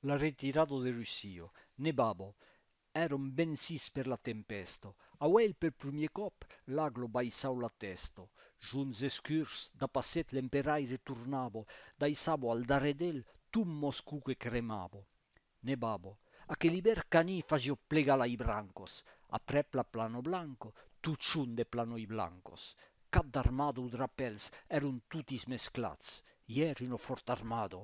La retirada de Russia. Nevava. Èram vencits per la tempèsta. Auèi per prumier còp l'agla baissau la tèsta. Junts escurs, dapasset l'emperaire tornava, daissava al darrèr d'el tot Moscou que cremava. Nevava. Aquel ivèr Cani fasia plegar lai brancos. Aprèp la plana blanca, totjorn de planoi blancos. Cap d'armada o drapèls èran totis mesclats. Ièr una fòrta armada.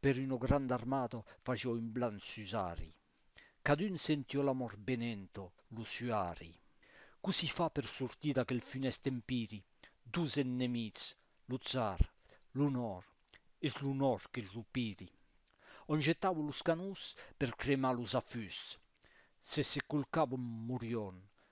per uno grand armato fació un blan susari, cadun sentió l'amor benento lo suari, cossí fa per sortir d'aquel funèst empiri, dos ennemits, lo tzar, l'onor, es l'onor que lo piri. On jetavo los canons per cremar los afusts, se se colcavon morion,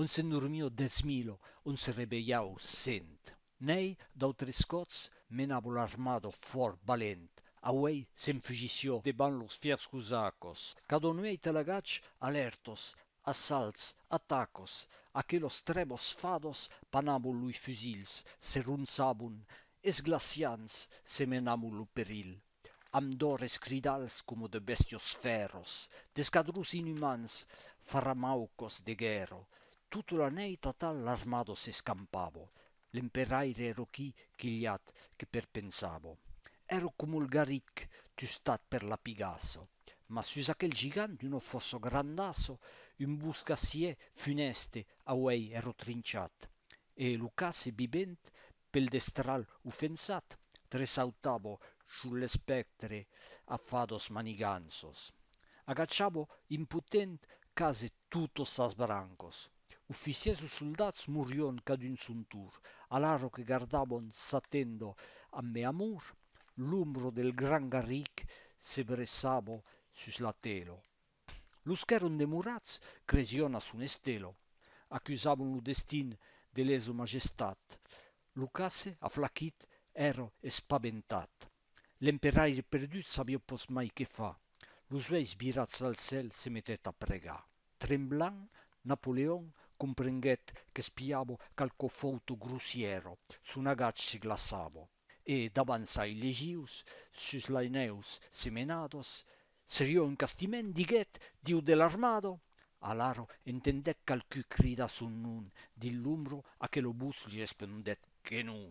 On se normio dètz milo, on se revelhau cent. N'èi d'autres còts menavo l'armado fòrt valent, auei s'enfugisciò debant los fièrs cosacos, cadon uei talagats alèrtos, assalts, atacos, aquelos trèbos fados panavon loi fusils, se ronçavon, esglaciants, se menavon lo perilh. amb d'òres cridals coma de bèstios fèrros, d'escadrons inumans farramaucos de guèrra, tota la nèit atal l'armada s'escampava, l'emperaire èra qui quilhat que perpensava, èra coma el garritg tustat per la pigassa, mas sus aquel gigant d'una fòrça grandassa, un boscassier funèste auei èra trinchat, e lo casse vivent Pel destral ofensat, tressautavo sul l'espèctre a fados maniganços. Agachavo impotent quase totos sas brancos. Oficiers o soldats morion cadun son tour, alaro que gardavon sa tendo amb me amor, l'ombro del gran garric se bressavo sus la telo. Los qu'èron demorats cresion a son estelo, acusavon lo destin de leso majestat. Lo casse, aflaquit, èro espabentat. L'emperaire perdut sabió pos mai que fa. Los uèis virats al cèl se metèt a pregar. Tremblant, Napoleon comprenguèt qu'espiavo qualqu'o fòuto grossièro. Son agach se glaçavo. e d'avançai legius sus lainèus semenados, serió un castiment, diguèt, diu de l'armado. Alaro entendèc qualqui cridar son nom dins l'ombro a que lo bus li respondèt que non.